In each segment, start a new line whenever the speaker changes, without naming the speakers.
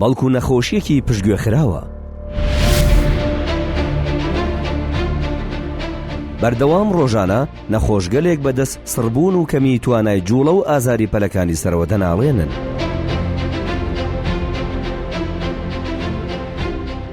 بەڵکو نەخۆشیەکی پشتگوێ خراوە. بەردەوام ڕۆژانە نەخۆشگەلێک بەدەست سڕبوون و کەمی توانای جوڵە و ئازاری پەلەکانی سەرەوە دەناڵێنن.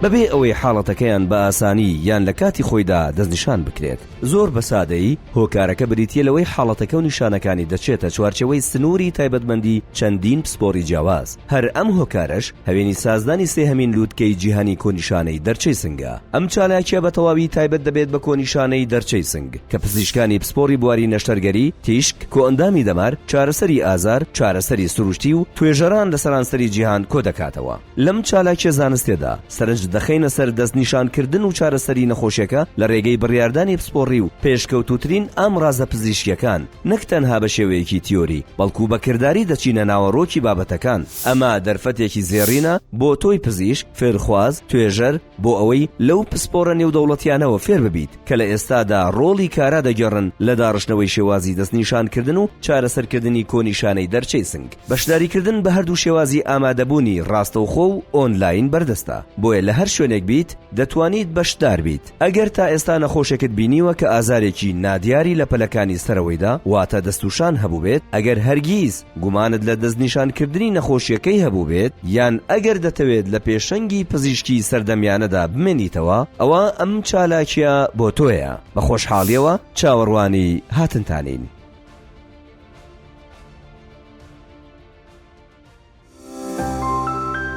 بەبێ ئەوەی حاڵەتەکەیان بە ئاسانی یان لە کاتی خۆیدا دەستنیشان بکرێت. زۆر بە سادەیی، هۆکارەکە بریتییە لەوەی حاڵەتەکە و نیشانەکانی دەچێتە چوارچێوەی سنووری تایبەتمەندی چەندین پسپۆری جیاواز، هەر ئەم هۆکارەش هەوێنی سازدانی سێهەمین لووتکەی جیهانی کۆنیشانەی دەرچەی سنگە. ئەم چالاکییە بە تەواوی تایبەت دەبێت بە کۆنیشانەی دەرچەی سنگ، کە پزیشکانی پسپۆری بواری نەشتەرگەری، تیشک، کۆئەندامی دەمار، چارەسەری ئازار، چارەسەری سروشتی و توێژەران لە سەرانسەری جیهان کۆدەکاتەوە. لەم چالاکیە زانستێدا سەرنج دەخەینە سەر دەست نیشان کردن و چارەسەری نەخۆشێکە لە رێگەی بریاردانی پسپۆڕی و پێشکەوتوترین ئامڕازە پزیشکیەکان نەک تەنها بە شێوەیەکی تیۆری بەڵکو بە کرداری دەچینە ناوەڕۆکی بابەتەکان ئەمە دەرفەتێکی زێڕینە بۆ تۆی پزیشک فێرخواز توێژەر بۆ ئەوەی لەو پسپۆرە نێودەوڵەتیانەوە فێر ببیت کە لە ئێستادا رۆڵی کارا دەگێڕن لە داڕشتنەوەی شێوازی دەست نیشان کردن و چارەسەر کردنی کۆنیشانەی دەرچەی سنگ. بەشداریکردن بە هەردوو شێوازی ئامادەبوونی ڕاستەوخۆ و ئۆنلاین بەردەستە، بۆیە لە هەر شوێنێک بیت دەتوانیت بەشدار بیت. ئەگەر تا ئێستا نەخۆشێکت بینیوە کە ئازارێکی نادیاری لە پەلەکانی سەرەوەیدا واتە دەستوشان هەبووبێت، ئەگەر هەرگیز گومانت لە دەستنیشانکردنی نەخۆشییەکەی هەبووبێت، یان ئەگەر دەتەوێت لە پێشەنگی پزیشکی سەردەمیانەدا بمێنیتەوە، ئەوا ئەم چالاکییە بۆ تۆیە. بە خۆشحاڵییەوە چاوەڕوانی هاتنتانین.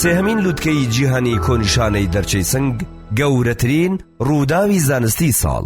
سێهەمین لوتکەی جیهانی کۆنیشانەی دەرچەی سنگ گەورەترین ڕووداوی زانستی ساڵ